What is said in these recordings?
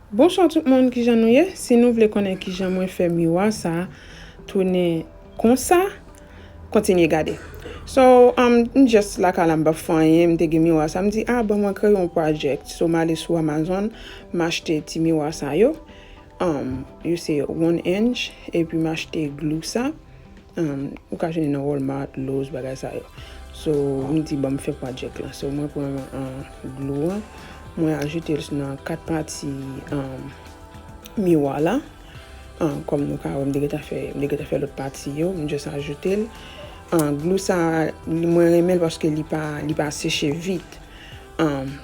Bonswa tout moun kijan nou ye si nou vle konnen kijan mwen fè miwa sa tounen konsa kontinye gade so m just lakay la m pap fè anyen m te gen miwa sa m di ah bon mwen kreye yon project so m ale sou amazon m achte ti miwa sa yo yo se one inch epi m achte glou sa. Ou ka jwenn li nan Walmart, Lowe's bagay sa yo. So m di banm fè project lan. So mwen pran glou an, mwen ajoute l nan 4 pati miwa la. Kòm nou ka wè m te gentan fè, m te gentan fè lòt pati yo, m just ajoute l. Glou sa mwen renmen l paske li pa li pa seche vit.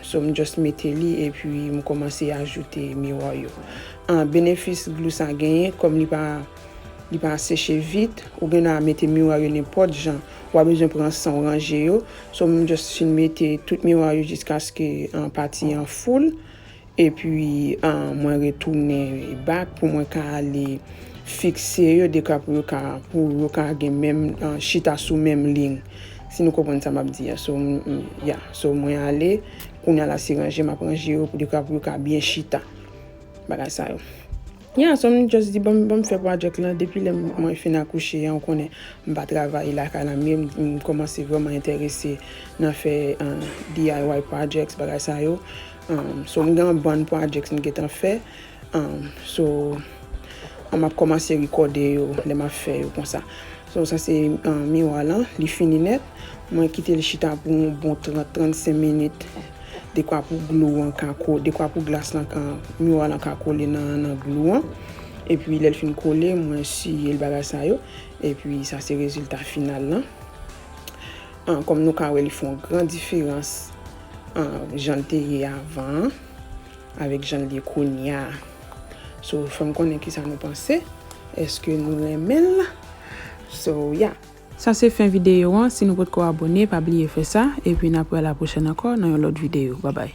So m just mete li epi m kòmanse ajoute miwa yo. Benefis glou sa genyen kòm li pa Li pa seche vit, ou gen a mete miwa yo nenpòt jan, wa bezwen pran sanw ranje yo, so m just fin mete tout miwa yo jiskaske pati an full, epi mwen retounen back pou mwen ka ale fikse yo deka pou yo ka pou yo ka gen menm chita sou menm liy si nou konprann sa map di a so m ya so mwen ale kounya la se ranje map ranje yo deka pou yo ka byen chita bagay sa yo. Yeah so m just di banm banm fè project lan depi lè mwen fin akouche an ou konnen m pa travay lakay la mye m kòmanse vrèman entèrese nan fè DIY projects bagay sa yo so m gen yon bann projects m gentan fè so map kòmanse rekòde yo lè map fè yo konsa. So sa se miwa lan, li fini nèt. Mwen kite l chita pou yon bon 30, 35 minit dekwa pou glou an ka ko, dekwa pou glas lan ka, miwa lan ka kole nan glou an. Epi lè l fin kole, mwen siye l bagay sa yo. Epi sa se rezilta final lan. Kòm nou ka wè li fè yon gran diferans jan l te ye avan an. Avèk jan l ye kounya. So fè m konnen kisa nou panse. Eske nou renmen l? So yeah. Sa se fen videyo an si nou potko abone pa bliye fè sa epi na pral la pwochèn ankò nan yon lòt videyo babay.